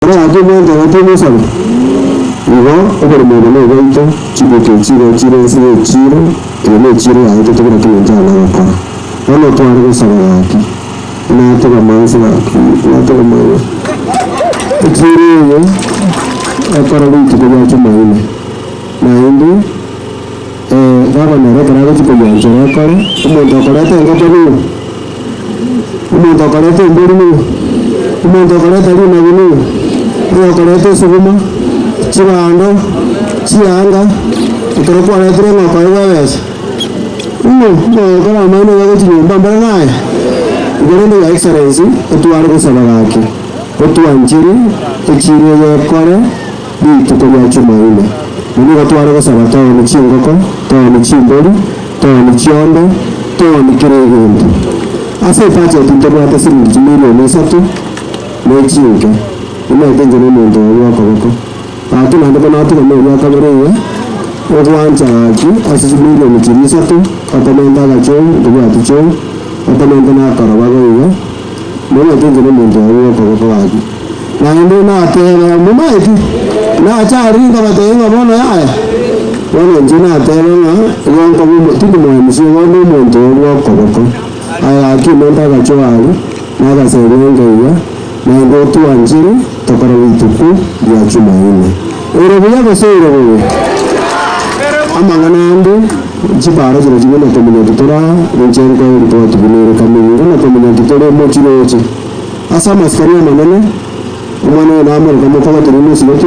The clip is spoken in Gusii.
Barabwo mwancha batie Musabe, nigo oborimo obo noboito, chibuku echi nigo chire ense y'echiiro, eyo nechiiro yaito tebura kina enchara na gokora. Bono tware gosaba gaki, inatogamanse gaki, inatogamanse echiiro eye ekorerwe rituko ria Jumaine, naende, Ee, Raba nere ekero agochia koywanchora ekore, omonto okoreta engoko nigo? Omonto okoreta embori nigo? Omonto okoreta rinagu nigo? Oyokoreta esuguma, chibando, chianga, ekero kwaretire engoko aye bwebesa, ng'o mogokora amang'ana iga gochia nyomba mbare naye? Igo rende your excellency, otware gosaba gake, otwanchire echiire y'ekore. Rituko ria Chumaine, na nigo tware gosaba tooni chingoko, tooni chimbori, tooni chiombe, tooni kera egento. Ase ebacheti ntobwate siringi chimilioni isato na echinke, emanyete inche nomonto oyo bw'okoboko. Ati naende buna atigana oria o kabere iga, ogwancha gaki ase chimilioni chiria isato, otamenta agachou, ntobwati chou, otamenta na akoroba goigo, Monatenke nomonto oye gw'okoboko gwake. Naende natebe, Momaeti, nache aria nkabatebie ng'a bono yaya. Bono inche natebe ng'a igo nkoba omo tindi moemisi igo onde omonto oyo bw'okoboko. Aye akia omonto agachoa aria, na agaseria enka iga, naende otwanchire tokore rituko ria Chumaine. Ore buya gose ore bobe? Amang'ana ande, chibara chire chimwe na komenya ki tore aa, ninche nkoe ripoti buna ere kame nigo na komenya ki tore mochie noche. Ase amasikani amanene, omwana oyo namoreka mokoba torimo nsibeti,